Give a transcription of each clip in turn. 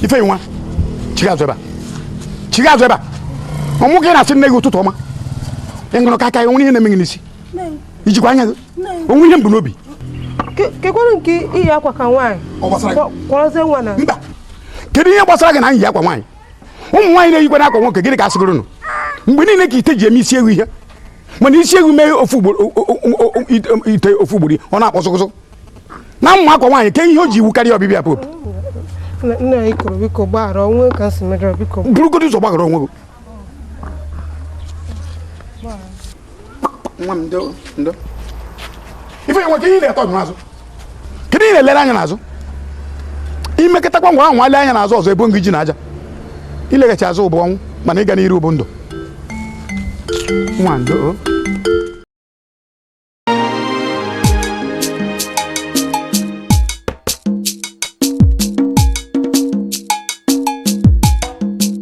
ifeyinwa chigha azụ ebe a chigha azụ ebe a ọmụ gị na-asị nne gị ụtụtụ ọma ị ṅụrụ kaịkaị o nwere ihe na-eme gị n'isi i jikwa anya gị o nwe ihe m bu n'obi kekwanụ nke iyi akwa ka nwaanyị kwọrọzie nwa na mba kedu ihe gbasara gị na iyi akwa nwaanyị ụmụ nwaanyị na-eyikwanụ akwa nwoke gịnị ka a sịgoro nụ mgbe niile ka ite ji eme isi ewu ihe mana isi ewu mee ofu ugboro ite ofu ugboro ọ na-akpọsụkụsụ na m ma akwa nwaanyị ke ihe o ji ewu karịa ọbịbịa pope nna anyị ukwu biko gbaghara o nwe ka m si mejọrọ biko burugodu ụzọ gbaghara onwe gị nwa m ndo ndo ifeyinwa ke ihe na-eto n'azụ kedu ihe ị na-elere anya n'azụ i meketakwa ngwa ahụ nwale anya n'azụ ọzọ ebo m gị ji na aja ileghachi azụ bụ ọnwụ mana ịga n'iru bụ ndụ nwa ndo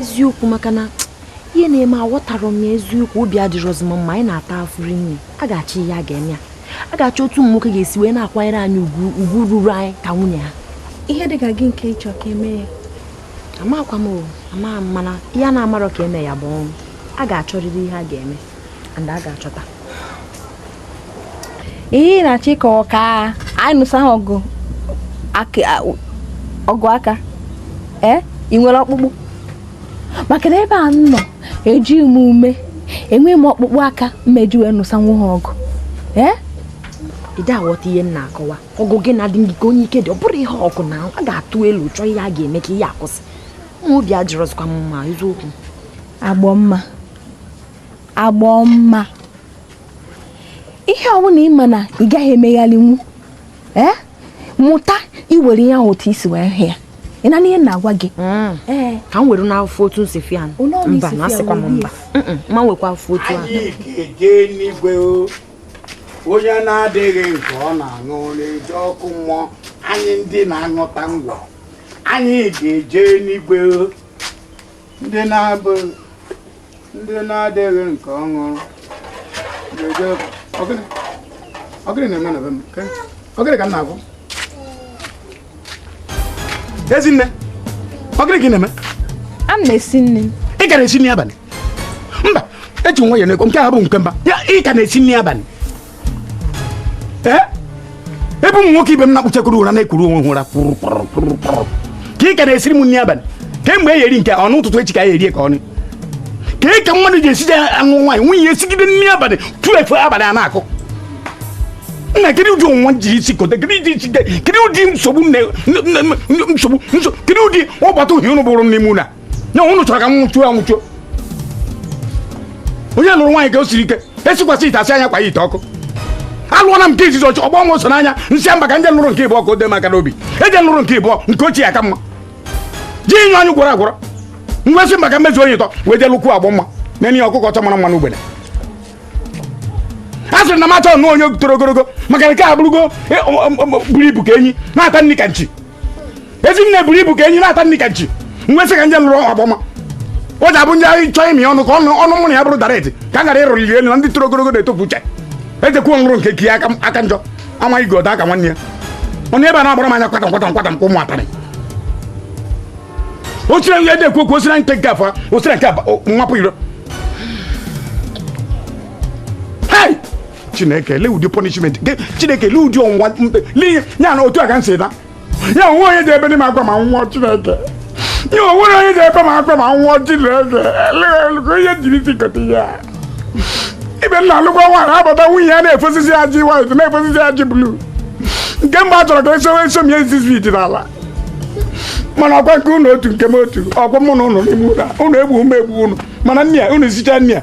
eziokwu maka na ihe na-eme aghọtarọ m ya eziokwu obi adịrọzi m mma anyị na-ata afụfụ nne a ga-achọ ihe a ga-eme ya a ga-achọ otu ụmụ nwoke ga-esi wee na-akwanyere anyị ugwu ugwu ruru anyị ka nwunye ha ihe dị ka gịnị ka ị chọ ka e mee ya amakwa m ama mana ihe a na-amarọ ka e mee ya bụ ọnwụ a ga-achọrịrị ihe a ga-eme and a ga-achọta ihe ị na-achọ ịkọwa ka anyị nụsa ha ọgụ ọgụ aka ee eh? ị nwere ọkpụkpụ maka na ebe a m nọ eji m ume enweghị m ọkpụkpụ aka m ma-eji wee nụsa nwa ha ọgụ ee eh? ide aghọta ihe m na-akọwa ọgụ gị na-adị gị ka onye ike dị ọ bụrụ ihe ọgụ na a ga-atụ elu chọọ ihe a ga-eme ka ihe a kwụsị nwa obi adịrọzikwa m mma eziokwu agbọmma agbọmma ihe ọbụla ị ma na ị gaghị emeghalinwu ee mụta iwere ihe ahụ otu i si wee hụ ya ị na-anụ ihe m na-agwa gị mm. ee ka m were n'afọ otu nsi fi anụ Ụlọ ọrụ mba isi na fi asịkwa m anụ, mba Mm-mm, ma nwekwa afọ otu ahụ anyị ga-eje n'igwe o. onye na-adịghị nke ọ na-aṅụ na-eje ọkụ mmụọ anyị ndị na-aṅụta ngwọ anyị ga-eje n'igwe o. ndị na-abụ ndị na-adịghị nke ọ ṅụ ga-eje ọ gịnị ọ gịnị na-eme na be m ke ọ gịnị ka m na-ahụ ezinne ọ gịnị ka ị na-eme a m na-esi nri ị ka na-esi nri abalị mba eji nwa ya n'ego nke a bụ nke mba ya ị ka na-esi nri abalị ebe ụmụ nwoke ibe m na-akpụchakọrọ ụra na-ekuru onwe ụra ka ị ka na-esiri m nri abalị kemgbe e eri nke ọnụ ụtụtụ echi ka e erie ka ọnụ ka ị ka mmadụ ji esi je anụ nwaanyị nwunye ya esigide nri abalị twelve abalị a na-akụ nna kedu ụdị ọnwụnwa jiri isi kote kedu ụdị isi kedu ụdị nsogbu nsogbu kedu ụdị ọgbata uhie unu bụrụ n'ime ụlọ na unu chọrọ ka m nwụchuo anwụchuo onye lụrụ nwaanyị ka o siri ike esikwasị ite asị anya kwa ya ite ọkụ alụọla m nke izizi ọchị ọgbọ nwa so n'anya m sị mba ka m je lụrụ nke ịbụọ ka o dee m aka n'obi eje lụrụ nke ịbụọ nke ochie aka mma ji inye anyị gwọrọ agwọrọ m wee sị mba ka m mezu onye ụtọ wee jee lụkwuo Agbọmma na-enye ya ọkụkọ ọcha mara mma n'ugbene a sịrị na m achọghị ịnụ onye toro ogologo maka nke a bụrụgo e, o- o- o- buru ibu ka enyi na-ata nri ka nchi Ezinne buru ibu ka enyi na-ata nri ka nchi m wee sị ka m je lụrụ Agbọmma o ji abụ ndị anyị chọọ imi ọnụ ka ọnụ ọnụ mụ na ya bụrụ direct ka m ghara ịrụliri elu na ndị toro ogologo na-etofu uche ejekwuo m lụrụ nke ki aka aka njọ amaghị godu aka nwanne ya ọ nọ ebe a na-agbara m anya kwata kwata kwata nke ụmụ atarị o sire nri ede ekwu okwu osira nke nke afọ osira nke abụọ, o- nwapụ iro chineke lee ụdị punishment Ge- chineke lee ụdị ọnwụnwa mkpe lee ihe ya na otu a ka m si na ya o nwe onye ji ebedi m akwa ma m nwụọ chineke ya o nwere onye ji ebe m akwa ma m nwụọ chineke Lee, lekwa ihe m jiri isi kote ihe a ibe m na-alụkwa nwaanyị abata nwunye ya na-efosisi ya ajị white na-efosisi ya ajị blue nke m ebe a chọrọ ka esowe eso m ya ezizi iji n'ala mana ọkwa nke unu otu nke m otu ọkwa mụ na unu n'ime ụlọ a. unu egbu m egbu unu mana nne ya unu sicha nne ya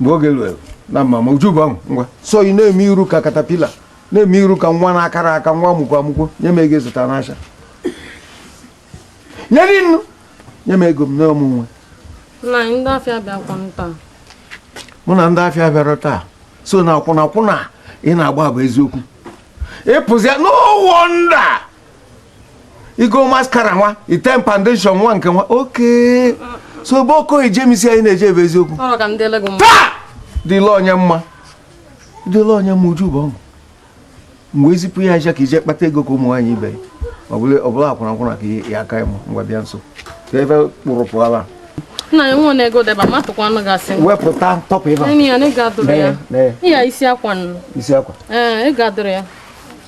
mgbe oge ruo na mama uju bụ ahụ ngwa sọ ị na-eme iru ka katapila na-eme iru ka nwa na-akara aka nwa amụkwo amụkwo nye m ego zụta n'asha nye dị nnu nye m ego m na ọ mụ nwe ndị afịa bịakwa taa mụ na ndị afịa bịara taa sọ na akwụna akwụna ị na-agba bụ eziokwu ị pụzịa n'ụwọ nda igo mascara nwa ite foundation nwa nke nwa oke so ebe okoye jemisi anyị na-eje ebe eziokwu taa dịla onye mma dịla onye mma uju bụ ọṅụ mgbe ezipụ ya aja ka ije kpata ego ka ụmụ nwaanyị ibe ọ bụla akwụna akwụna ka ya aka ịmụ ngwa bịa nso ka ebe kpụrụ pụọla nna ya nwa na-ego deba matụkwa anụ gasị wepụta top ịba ya isi akwa isi akwa ee ị ga-adụrụ ya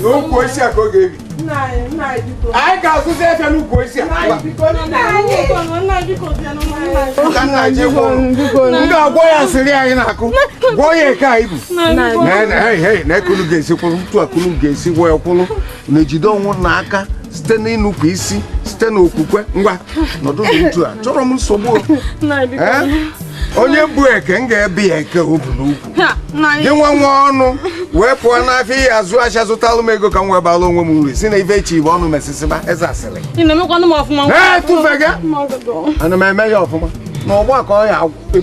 n'ukwu osisi a ka ọ ga-ebi anyị ga-azụzi efe n'ukwu osisi a m ga-agwọ ya sịrị anyị na-akụ gwọọ ya eke anyị bụ na ekulu ga-esi kwụrụ ntu akulu ga-esi gwọ ya kwụrụ na ejide onwe na aka site n'ịnụpụ isi site n'okwukwe ngwa nọdụ n'uju a chọrọ m nsogbu onye bu eke m ga-ebe ya eke o bu n'ukwu gị nwa nwa ọnụ wee pụọ n'afịa ihe azụ ahịa zụtalụ m ego ka m wee bala onwe m uru si na ife echi bụ ọnụ mesịsịba eze asịrị etụfega ana m eme ya ọfụma na ọgba ka ọ ya agwụ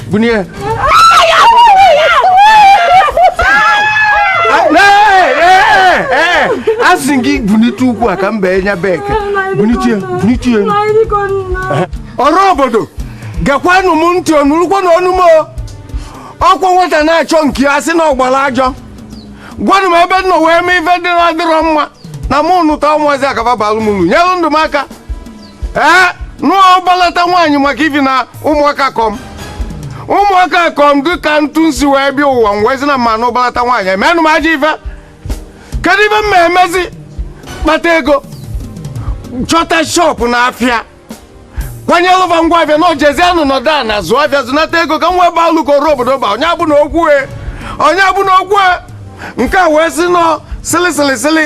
Bunie asị gị bunite ukwu a ka m bee nya bek bunitie bunitie ọra obodo gekwanụ m ntị ọ nụrụkwa na ọnụ m ọkwa nwata na-achọ nke ya sị na ọ gbala ajọ gwanụ m ebe m nọ wee mee ife dị na-adịrọ mma na mụ nụta ụmụazị a ka fa balụ m ulu nyelụ ndụ m aka ee nụgbalata nwaanyị maka ifi na ụmụ oke kọ m ụmụ oke kọ m dị ka ntụ nsi wee bịa ụwa m wee sị na mụ anụgbalata nwaanyị emenụ m ajọ ife kedu ife m ma emezi kpata ego chọta shọpụ na afịa kwanyelụ fa ngwa afịa na ojezianụ nọdụ ana zụọ afịa zụnata ego ka m wee baa ulu ka ọra obodo ba onye abụ na okwu e onye abụ na okwu e nke a wee sị nọ sịlịsịlịsịlị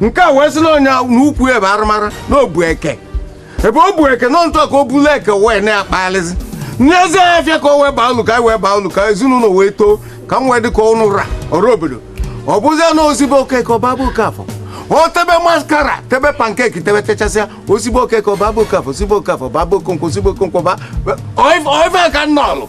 nke a wee sị na onye n'ukwu ebe arụmara na o bu eke ebe o bu eke nọ ntụ ka o bulu eke wee na-akpaghalịzi n'ezi afịa ka o wee baa ulu ka anyị wee baa ulu ka ezinụlọ wee too ka m wee dị ka unu ọra obodo ọ bụzie na o si be okeke ọ baa be okafọ o tebe maskara tebe pankeki tebe techasịa o si be okeke ọ baa be okafọ o si be okafọ baa be okonkwo o si be okonkwo ba oife ka nnọlụ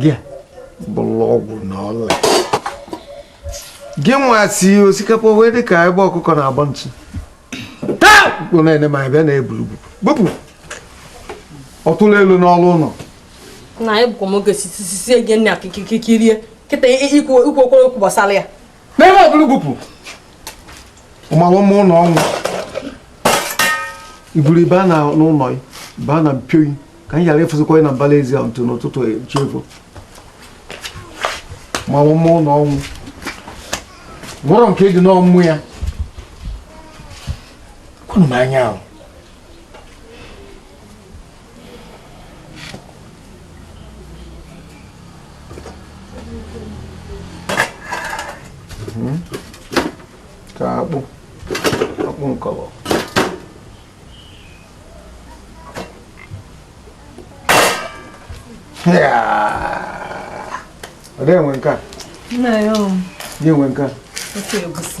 gị bụlụ ọgwụ na ọla gị nwa si osikapa wee dị ka ebe ọkụkọ na-agba ntụ na-ene ma bịa na-eburu bupụ ọtụrụ elu n'ọrụ ụlọ na egbukwa m oge sisi gị nna kikirikie kịta ikwu okwu gbasara ya n'ebe ọbụla gwupụ ụmụrụ ụmụ ụlọ ọnwụ iburu ibu a na n'ụlọ ya ịba na mpioyi ka anyị ghara ịfụzikwa ya na mbala ezi a ntụ n'ụtụtụ echi efu ụmụrụ ụmụ ụlọ ọnwụ gwọrọ nke dị n'ọmụ ya kwunu m anya ahụ Hmm? ka akpụ akpụ nkọlọ ọ dịghị enwe nke a Nna ya o. Nye enwe nke a. Ofe egusi.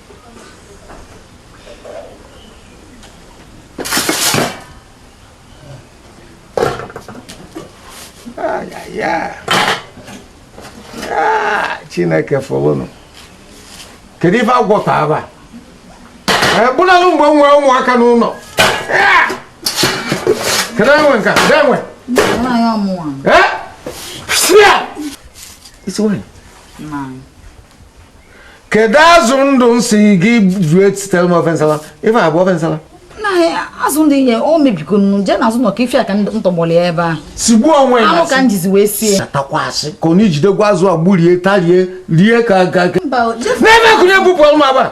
chineke fụlụnụ kedu ife a gwọta aba ebụnalụ mgbe m nwere ụmụaka n'ụlọ kedu enwe nka kedu enwe isi nwanyị kedu azụ ndụ m sị gị ji sitere m ofe nsala ife a bụ ofe nsala azụ ndụ ihe o mebigo nnu jee na azụ nọ ka ife a ka ntọgbọrọ ya ebe a sigbuo onwe ya anụ ka m jizi wee sie takwasị ka ọ na-ejidekwa azụ a gburie tarie rie ka aga n'ebe akụnye bupụrụ m aba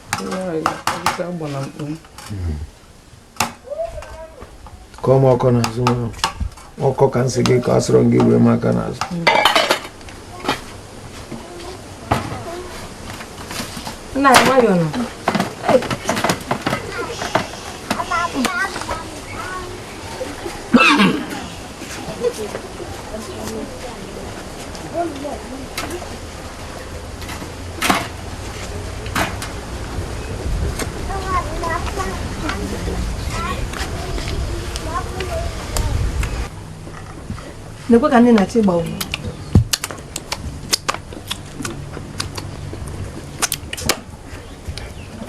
kọọ m ọkọ n'azụ nwa ọkọ ka m sị gị kọọ asịrọ m gị ruo m aka n'azụ nna anyị nwayọọ nụ nekwa ka ndị na-achọ ịgba ụgwọ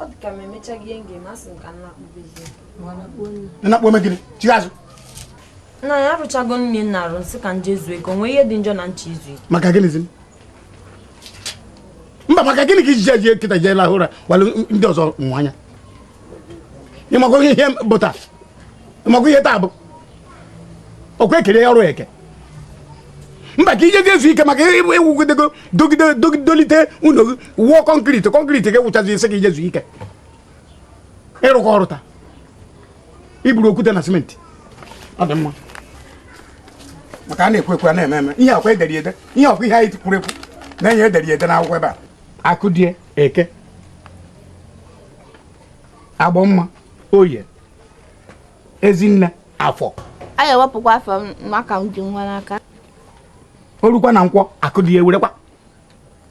ọ dị ka m emechaghị ihe m ga-eme asị m ka nna kpụbezie nna kpụọ megide chigha azụ nna anyị arụchago m ihe m na-arụ m sị ka m jee zuo ike o nwe ihe dị njọ na m chọ izu ike maka gịnịzi mba maka gịnị ka i ji eji kịta jee lahụ ụra walụ ndị ọzọ nwanyị a ị makwa ihe bụ taa ị makwa ihe taa bụ ọkwa e kere ọrụ eke mba ka i je ezu ike maka ị wụgidego dogide dolite ụlọ gị wụọ kọnkriti kọnkriti ga-ewụchazi ị sị ka i jee zuo ike ị rụkọ ọrụ taa i buru okwute na simenti ọ dị mma maka a na-ekwu ekwu a na-eme eme ihe a kwa e dere ede ihe ọkwa ihe anyị kwuru ekwu na ihe e dere ede n'akwụkwọ ebe a akụdiya eke agbọmma oye ezinne afọ a ga-ewepụkwa afọ m maka m ji nwa n'aka o rukwa na nkwọ akụdiya ewerekwa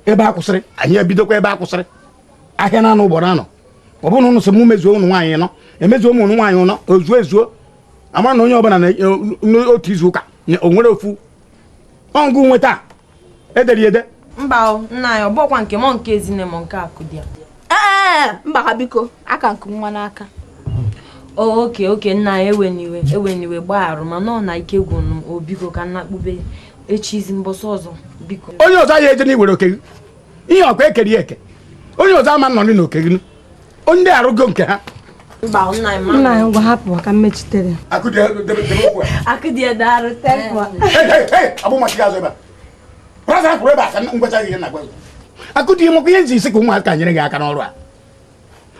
ebe a kwụsịrị anyị ebidokwa ebe a kwụsịrị ahịa na anụ ugboro anọ ọ bụrụ na ụnụ sị m mezuo ụnụ nwaanyị nọ emezuo m ụnụ nwaanyị nọ o zuo ezuo a ma na onye ọbụla n'otu izu ụka o nwere ofu ọ ga-enweta edere ya ede mba o nna anyị ọ bụkwa nke mọ nke ezinne mọ nke akụdiya ee mba ha biko aka nke nwa n'aka okay okay nna anyị ewena iwe ewena iwe gbagharụ mana ọ na ike gwụnụ o biko ka m nakpube echizi mbọsị ọzọ biko onye ọzọ ya ejena iwere oke gị ihe ọkwa e kere eke onye ọzọ ama nọ n'oke gị ndị arụgo nke ha akụdi maka ihe m ji sị ka ụmụaka nyere gị aka n'ọrụ a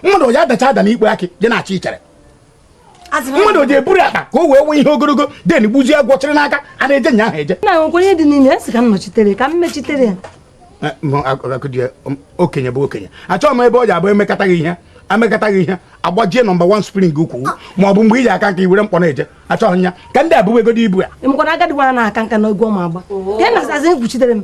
mmadụ ya adacha ada n'ikpo akị je na-achị ichere mmadụ ji eburu akpa ka o wee nwee ihe ogologo then gbuzie agwọ chịrị n'aka a na-eje nya ahụ eje na nwekwa ihe dị n'ime ya sị ka m nọchitere ka m mechitere ya eh, um, okenye bụ okenye achọghị m ebe ọ ja-abụ e mekata ihe e mekata ihe agbajie number one spring ukwu ma ọ bụ mgbe i ji aka nka i were mkpọ na-eje achọghị ya ka ndị a buwegodu ibu a agadi nwa na-aka nka n'egwu ọ ma agba oh. ka ị na-azazi m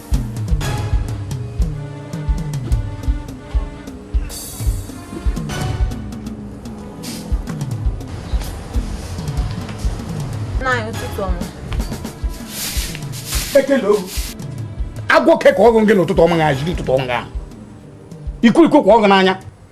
agụụ okwu ka ọ gụ gị n'ụtụtụ ọma ga-ajiri ụtụtụ ọma ahụ ekwurekwu kwa ọgụ n'anya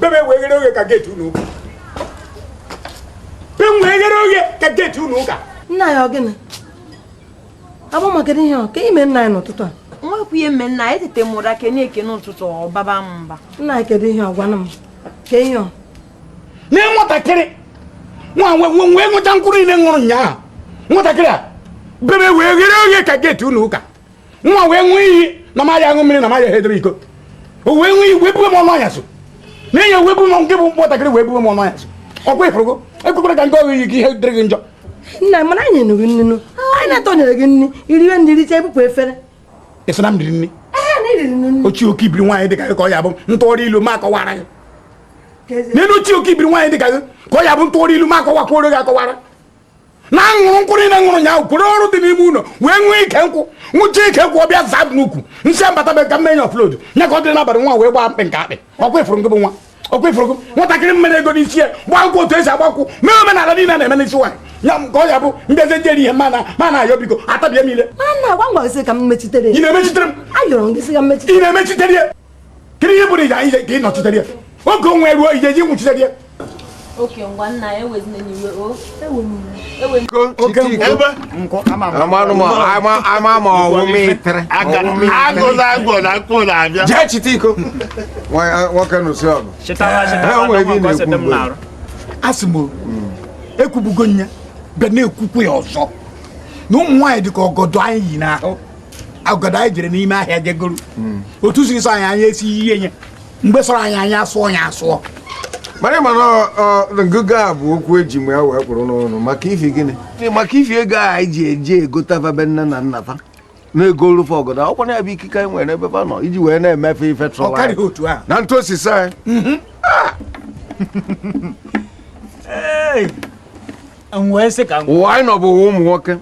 bebe wee ghere oghe ka gate ụnọ ụka be wee ghere oghe ka gate ụnọ ụka nna anyị ọ gịnị abụma kedu ihe ọ ka i me nna anyị n'ụtụtụ a nwekwa ihe m me nna anyị teta m ụra kene ekene ụtụtụ ọ baba m mba nna anyị kedu ihe ọ gwana m ka ihe ọ na nwatakịrị nwa wee ṅụcha mkpụrụ niile m ṅụrụ ụnyaahụ nwatakịrị a bebe wee ghere oghe ka gate ụnọ ụka nwa wee ṅụọ iyi na ma ya aṅụ mmiri na ma ya hedere iko o wee ṅụọ iyi wee bue m ọnụ anyasị nna anyị wee bu m nke bụ nwatakịrị wee bue m ọnụ anyasị ọkwa ị fụrụgo ekwekwana ka m kọọ gị iyi ka ihe dịrị gị njọ nna mana anyị nyenụ gị nnu anyị na-atọnyere gị nri i riwe i richa ebupụ efere ị sị na m riri nri ochie oke ibiri nwaanyị dị ka gị ka ọ ya bụ ntụgharị ilu ma akọwara gị ilu ochie oke ibiri nwaanyị dị ka gị ka ọ ya bụ ntụgharị ilu ma akọwakwuoro gị akọwara na aṅụrụ nkwụ niile m ṅụrụ nyaahụ kworo ọrụ dị n'ime ụlọ wee ṅụọ ike nkwụ ṅụcha ike nkwụ ọ bịa zaa n'ukwu m sị ya batabe ka m mee nya offload nya ka ọ dịrị n'abalị nwa wee gbaa mkpị nke akpị ọkwa ị fụrụ gị bụ nwa ọkwa ị fụrụ gị nwatakịrị m mere ego n'isi ya gbaa nkwụ otu e si agba nkwụ mee omenala niile na-eme n'isi nwaanyị ya ka ọ ya bụ mbezi m je eri ihe mana ma na-ayọ biko atabie niile ị na-emechitere m ị na-emechitere ya kedu ihe bụrụ ije ka ị nọchitere ya oge ọnwụ ruo i je ji nwụchitere ya okay ngwa nna anyị ewezina iwe o jee chite iko nwoke nụsị ọgụ asị m ekwubugo nya bịa na-ekwukwu ya ọzọ na ụmụ nwaanyị dị ka ọgọdọ anyị yi n'ahụ ọgọdọ anyị jere n'ime ahịa je goro hmm. otu siri sọ anyị anyị esi ihe nye mgbe sọrọ anyị anyị asụọ ya asụọ mana mana ngụgụ a bụ okwu eji mgbe ya wee kwụrụ n'ọnụ maka ifi gịnị maka ifi ego a anyị ji eje egota va be nne na nna fa na-egoru fa ọgọdọ ọkwa na ya bụ ikike anyị nwere ebe fa nọ iji wee na-eme fa ife trọwa na ntụ osisi anyị mhm. ah! wee sị ka ụwa anyị nọ bụ ụwa ụmụ nwoke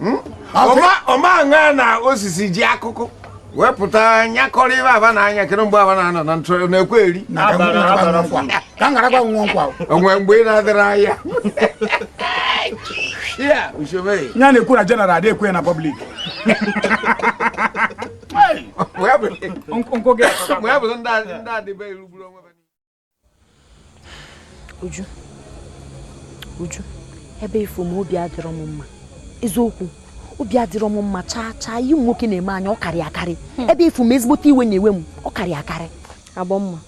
hmm? ọma aṅa na osisi ji akụkụ wepụta nyakọrọ ibe aba na anya kere mgbe aba na-anọ na ntụrụ na-ekwe eri onwe mgbe ị na-adịrị anya ya na-ekwu na general adị ekwe na public mgbe ya bụrụ ndị adịbe irugburu onwe Uju Uju ebe ị fụ m obi adịrọ m mma eziokwu obi adịrọ m mma chaa chaa ihe ụmụ nwoke na-eme anyị ọ karị akarị hmm. ebe ị fụ m ezigbote iwe na-ewe m ọ karị akarị Agbọmma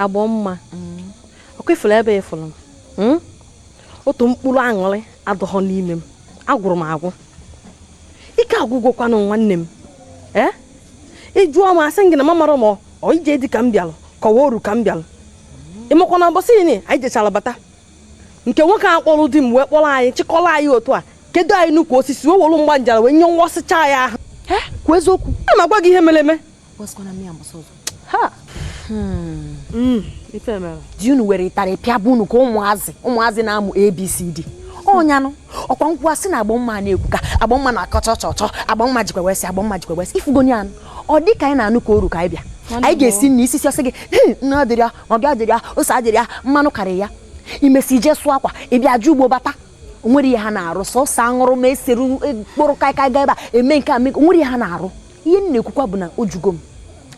Agbọmma hmm. ọkwa ị fụrụ ebe ị fụrụ m hmm? otu mkpụrụ aṅụrị adịghọ n'ime m agwụrụ m agwụ ike agwụgokwanụ nwanne m ee eh? ị jụọ m asị m gị na m amarọ m ọ ije di ka m bịalụ ka ọ wụ oru ka m bịalụ ị makwa na mbọsị ini anyị jechara bata nke nwoke a kpọrọ di m wee kpọrọ anyị chịkọrọ anyị otu a kedo anyị n'ukwu osisi wee welu mgba njara wee nye nwa ọsịcha ya ahụ kwuo eziokwu a na-agwa gị ihe mere eme hmm. hmm, di unu were ịtarị pịaba unu ka ụmụazị ụmụazị na-amụ abcd ọ nya nụ ọkwa a ga-asị na Agbọmma na-ekwuka Agbọmma na-akọcha ọchọ ọchọ Agbọmma jikwa wesị Agbọmma jikwa wesị ị fụgo nya nụ ọ di ka anyị na-anụ ka oru ka anyị bịa anyị ga-esi nri i sisịa a sị gị nnu adịrọ ya maggi adịrọ ya ose adịrọ ya mmanụ karịrị ya i mesịa i je sụọ akwa ị bịa je ugbo bata onwere ihe ha na-arụ sọsọ aṅụrụma esere mkpụrụ kaịkaị gaa ebe a eme nke a mee onwere ihe ha na-arụ ihe m na-ekwukwa bụ na o jugo m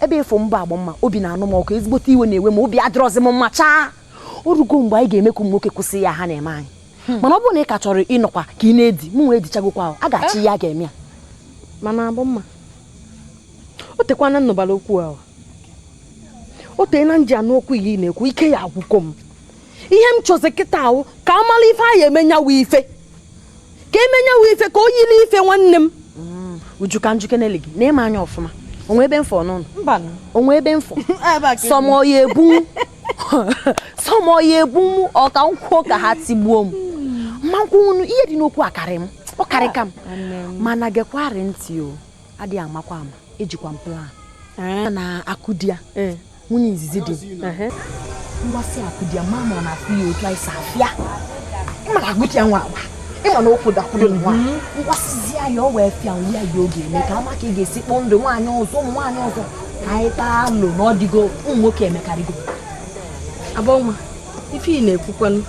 ebe ị fụ m a Agbọmma obi na-anụ m ọkụ ezigbote iwe na-ewe m obi adịrọzi m mma chaa o rugo mgbe anyị ga-eme ka ụmụ nwoke kwụsị ihe a ha na-eme anyị hmm. mana ọ bụrụ na ị ka chọrọ ịnọkwa ka ị na-edi mụ nwa edichagokwa a ga-achọ ihe a ga-eme ya mana Agbọmma o teekwana m nụbara okwu ahụ o teena m ji anụ okwu a ị na-ekwu ike ya agwụgo m ihe m chọzi kịta wụ ka a mara ife anyị ya-eme nya wụ ife ka e mee nya wụ ife ka o yiri ife nwanne m mm. Uju ka m jụkeneli gị na ị ma nya ọfụma onwe ebe mfọ n'ụlọ onwe ebe mfọ sọmọ ya ebunwu sọmọ ya egbu m ọ ka m kwuo ka ha tigbuo m ma nkwụnwụnụ ihe dị n'okwu akarị m ọ karị ka m ah, mana gekwarị ntị o adịghị amakwa ama ejikwa m plan eh. na akụ di ya eh. nwunye izizi dị mgbasị akụ di ya ma ma ọ na-afụ ya otu anyị si afịa ịma na agụti ya nwa agba ịma na okwu dakwuru nwa ngwasịzi ya ya ọ wee fịa nri ya oge eme ka ama ka ị ga-esi kpọọ ndụ nwaanyị ọzọ ụmụ nwaanyị ọzọ anyị tụa alo na ọ dịgo ụmụ nwoke emekarịgo Agbọmma ife ị na-ekwukwanụ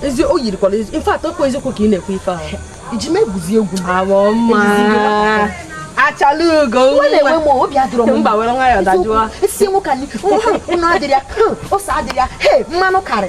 ezi o yirikwala ezi ife atọ kwa eziokwu ka ị na-ekwu ife ahụ i ji m egwuzi egwu m Agbọmma achala ugo mba were nwayọ dajụọ isi nwoke anyị nnu adịrọ ya ose adịrọ ya he mmanụ karị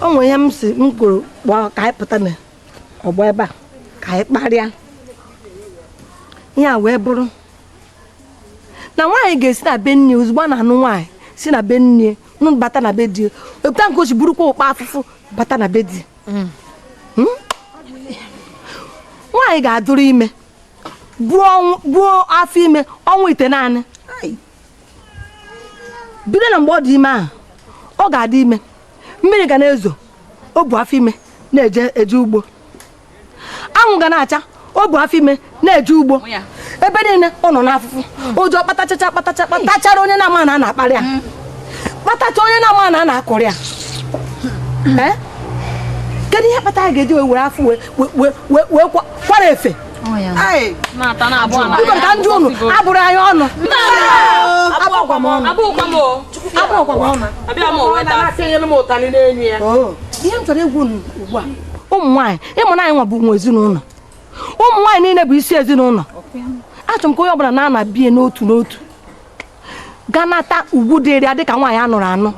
o nwere ihe m si m kwuru kpọọ ka anyị pụta na ọgbọ ebe a ka anyị kparịa ihe a wee bụrụ na nwaanyị ga-esi na be nne ozugbo a na-anụ nwaanyị si na be nne nụbata na be di otu a ka o si burukwa ụkpa afụfụ bata na be di hmm? nwaanyị ga-adụrụ ime buo afọ ime ọnwa itenaanị bido na mgbe ọ dị ime ahụ ọ ga-adị ime mmiri ga na-ezo o bu afọ ime na-eje ugbo anwụ ga na-acha o bu afọ ime na-eje ugbo ebe niile ọ nọ n'afụfụ ụjọ kpatachacha kpatacha kpatachara onye na-ama na a na-akparị ya mm. kpatacha onye na-ama na a na-akọrị ya hmm. eh? kedu ihe kpata a ga-eji were afọ wee kwara efe ka ndị unu abụrụ anyị ọnụ ihe m chọrọ ikwu ugbu a ụmụ nwaanyị ị ma na anyị nwa bụ nwe ezinụlọ ụmụ nwaanyị niile bụ isi ezinụlọ achọrọ m ka onye ọbụla na-ana be ya n'otu n'otu gaa nata ugwu dịrị ya dịka nwaanyị a nụrụ anụ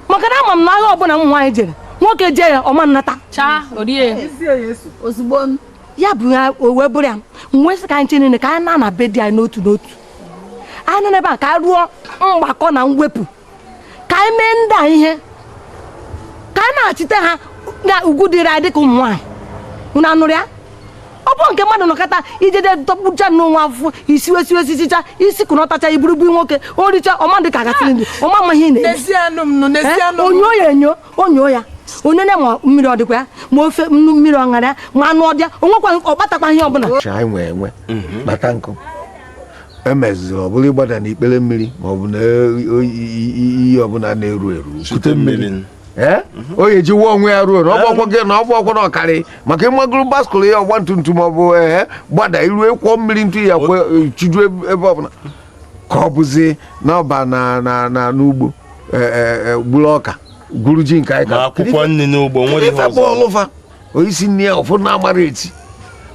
maka na ama m na agha ọbụla ụmụ nwaanyị jere nwoke jee ya ọ ma nnata ya bụ ya o wee bụrụ ya m wee sị ka anyị niile ka anyị na-ana be di anyị n'otu n'otu anyị nọ n'ebe a ka anyị rụọ mgbakọ na mwepụ ka anyị mee ndị a ihe ka anyị na-achite ha na ugwu dịrị anyị dịka ụmụ nwaanyị unu anụrụ ya ọ bụ nke mmadụ nọkọta ijede dọkpụcha n'onwe afụfụ i siwe siwe sichicha i sikọnọtacha i buru bunye nwoke o richa ọ ma dị ka agasịrị ndụ ọma ma ihe ị na-eri n'ezie anụ m nụ n'ezie Eh, anụ m onyo ya enyo onyo ya onye na ma mmiri ọ dịkwa ya ma ofe nnu mmiri ọ ṅara ya ma anụ ọ dị ya o nwekwa ọ kpatakwa ihe ọbụla Chi anyị nwee enwe kpata nkụ emeziri ọ bụla ịgbada n'ikpere mmiri ma ọ bụ na iyi ọbụla na-eru eru kute mmiri onye mhm. ji wụọ onwe ya ruo na ọ bụ gị na ọ bụ ọkwọ na ọ karị maka ịmagoro baskụl ya ọgba tum tum ọ bụ ee gbada iru kwụọ mmiri ntu ya kwe e, chiju ebe ọbụla ka ọ bụzi n'ọba na na na n'ugbo e, e, gburu ọka gwuru ji nke anyị ka akwụkwọ nri n'ugbo nwere ihe ọzọ o isi nri ya ụfọdụ na-amara esi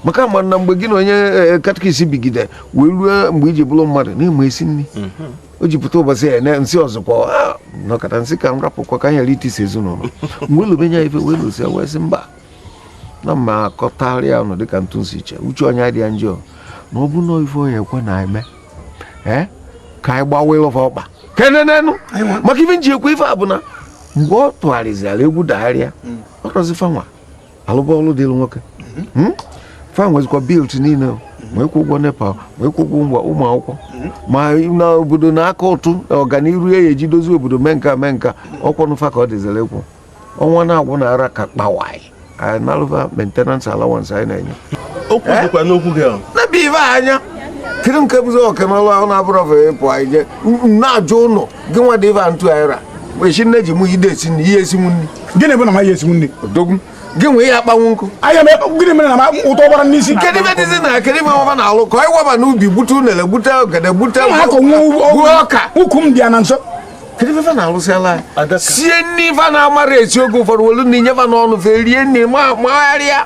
maka ama na mgbe gị na onye e, e, catechist bigide wee ruo mgbe i ji bụrụ mmadụ na-eme esi nri mhm. o ji pụta ụbọchị ya na m sị ọzọkwa ah, nọkata m sị ka m rapụkwa ka m ghara itisi ezinụlọ mgbe lụbenye ya ife wee lụsi ya wee sị mba na m ma-akọtarị ya ọnụ dịka otu m si eche uche onye adị ya njọ na ọ bụ na ife onye ekwu na eme ee ka anyị gbawa ịlụfa ọkpa kenenenu maka ife m ji ekwu ife a bụ na mgbe ọ tụgharịzịara egwu dagharịa mm. ọrọzi fanwa alụba ọrụ dịrị nwoke mhm. hmm? fan nwezikwa bill niile ma ịkwụ ụgwọ NEPA ma ịkwụ ụgwọ ngwa ụmụ akwụkwọ mhm. ma na obodo na-aka ụtụ ọganiru ya eji dozie obodo mee nka mee nka ọ kwanụ fa ka ọ dịziri ịkwụ ọnwa na-agwụ na ara ka kpawai anyị nalụva maintenance allowance anyị na-enye okwu dịkwa n'okwu gị ahụ nebe ife anya kedu nke bụzi ọkanalụ ahụ na-abụrụ ọfụ ịpụ anyị je na-ajụ ụlọ gị nwa dị ife a ntụ aịra echi nne ji mụ ide esi nri ị ya esinwu nri gịnị bụ na m ma ya esinwu nri odogwu gị nwa ị ya akpanwu nkụ anya m ekpe- gịnị mere na ma ụtọ gbara n'isi kedu ife dịzi na kedu ife ọ fa na-alụ ka anyị waba n'ubi gbute unere gbute ogede gbute ma akọ nwa gbuo ọka ukwu m dị ya na nso kedu ife fa na-alụsịala anyị? sie nri ife na-amara esi oge ụfọdụ welu na inye fa n'ọnụ fe rie nri ma magharịa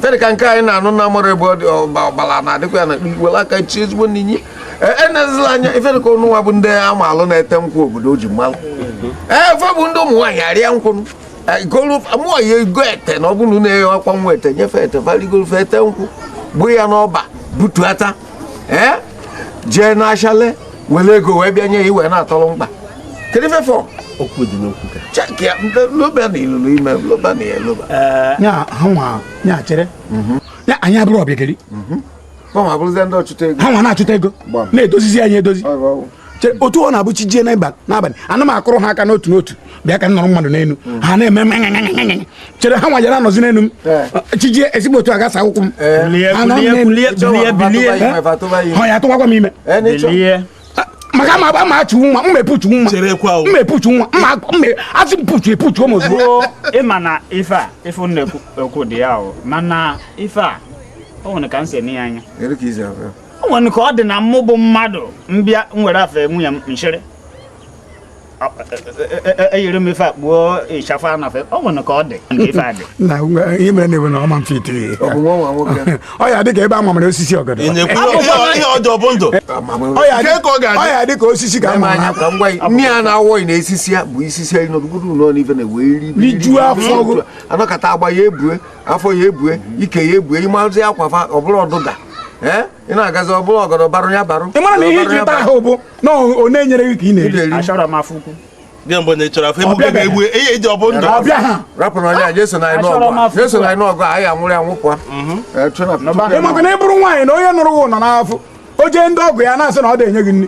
fa dị ka nke anyị na-anụ na amara ebe ọ dị ọgbala na-adịkwa ya na were aka chi ezigbo n'inyi enezila e anya ife dị ka ụnụ nwa bụ ndị amalụ na-ete nkwụ obodo o ji m malụ ee fe bụ ndị ụmụ nwaanyị arịa nkwụ mụọ ya ego ete na ọ bụrụ na eghe ọkwa nwa ete nye fa ete fa rigoro fe ete nkwụ gbuo ya n'ọba butuata ee jee n'ashịa lee were ego wee bịa nye ya iwe na-atọrọ mkpa kedu ife fọ okwu dị n'okwu ka chekia loba na ilulu ime loba na ya loba ya ha nwa ya chere ya anyị abụrụ ọbịageli ha nwa abụrụzie ndị ọchụta ego ha nwa na-achụta ego Gbam. na-edozizi anyị edozi Ọ bụ ọgwụ. Chere, otu ọ na-abụ chi jie n'abalị n'abalị ana m akụrụ ha aka n'otu n'otu bịa ka m nọrọ mmadụ n'elu ha na-eme chere ha nwa ja-anọzi n'elu m chijie ezigbo otu agasa akwụkwọ m ha ya atụwakwa m ime maka ama ama achu nwa mma epuchu nwa mma epuchu nwa mma mma asị mpuchu epuchu ụmụ ozugbo ịma na ife a ife ị na-ekwu dị ya o mana ife a o nwere ka m si ene ya anya o nwere ka ọ dị na mụ bụ mmadụ m bịa nwere afe nwunye m chịrị eyiri e, e, e, m ife akpụo ịchafụ anafe ọ nwere ka ọ dị ife adị na ihe mere na-ewe na ọma mfe ite ọ ya-adị ka ebe a mamara osisi ọgọdọ ọ ya-adị ka osisi ka nne ya na-awọghị na esisi ya bụ isisi ya nọdụgoro ụlọ n'ife na-ewe rijuo afọ anọkọta agba ya ebue afọ ya ebue ike ya ebue ị mazị akwa ọ bụrụ ọdịda ị na-agazi ọ bụrụ ọgọdọ barụ ya barụ ị mara na ihe i ji ata ahụ bụ na ọ na-enyere gị ka ị na-eri achọrọ m afọ ukwu gị mgbe na ị chọrọ afọ ebuge ga-egbu ihe e ji ọ bụ ndụ ọbịa ha rapụ na onye a jeso na anyị n'ọgụ anyị anwụrụ ya nwụkwa ị makwa na ị bụrụ nwaanyị na onye nụrụ gị nọ n'afọ o jee ndị ọgọ ya na-asị na ọ dị enye gị nri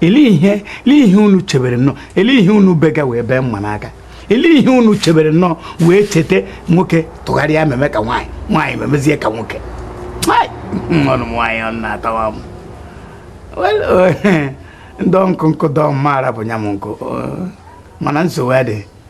ele ihe ele ihe unu chebere nnọọ ele ihe unu bega wee bee mma n'aka ele ihe unu chebere nnọọ wee cheta nwoke tụgharịa meme ka nwaanyị nwaanyị memezie ka nwoke ọnụ nwaanyị ọ na-atawa m ndị nkụ nkụ dọọ mma arapụ nya m nkụ mana nsogbu adịghị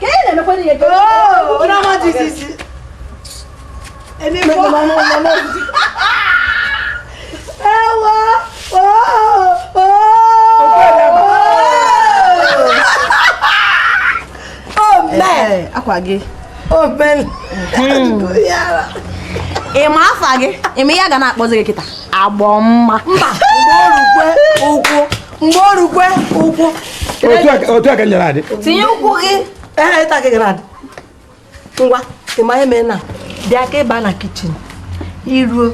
ka ị na-emekwa ihe gị akwa gị ị ma afa gị ị ma ihe a ga na-akpọzi gị kịta agbọ mma mba ụkwụ mgbe o rukwe ụkwụ otu aka nyere adị tinye ụkwụ gị ehe ịta gị ga na-adị ngwa ị ma ihe mee na bịa ka ị ba na kichin i ruo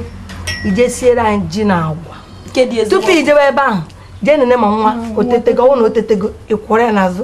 i je siere anyị ji na agwa tupu i jebe ebe ahụ jee nene ma nwa o tetego ọ bụrụ na o tetego ị kwọrọ ya n'azụ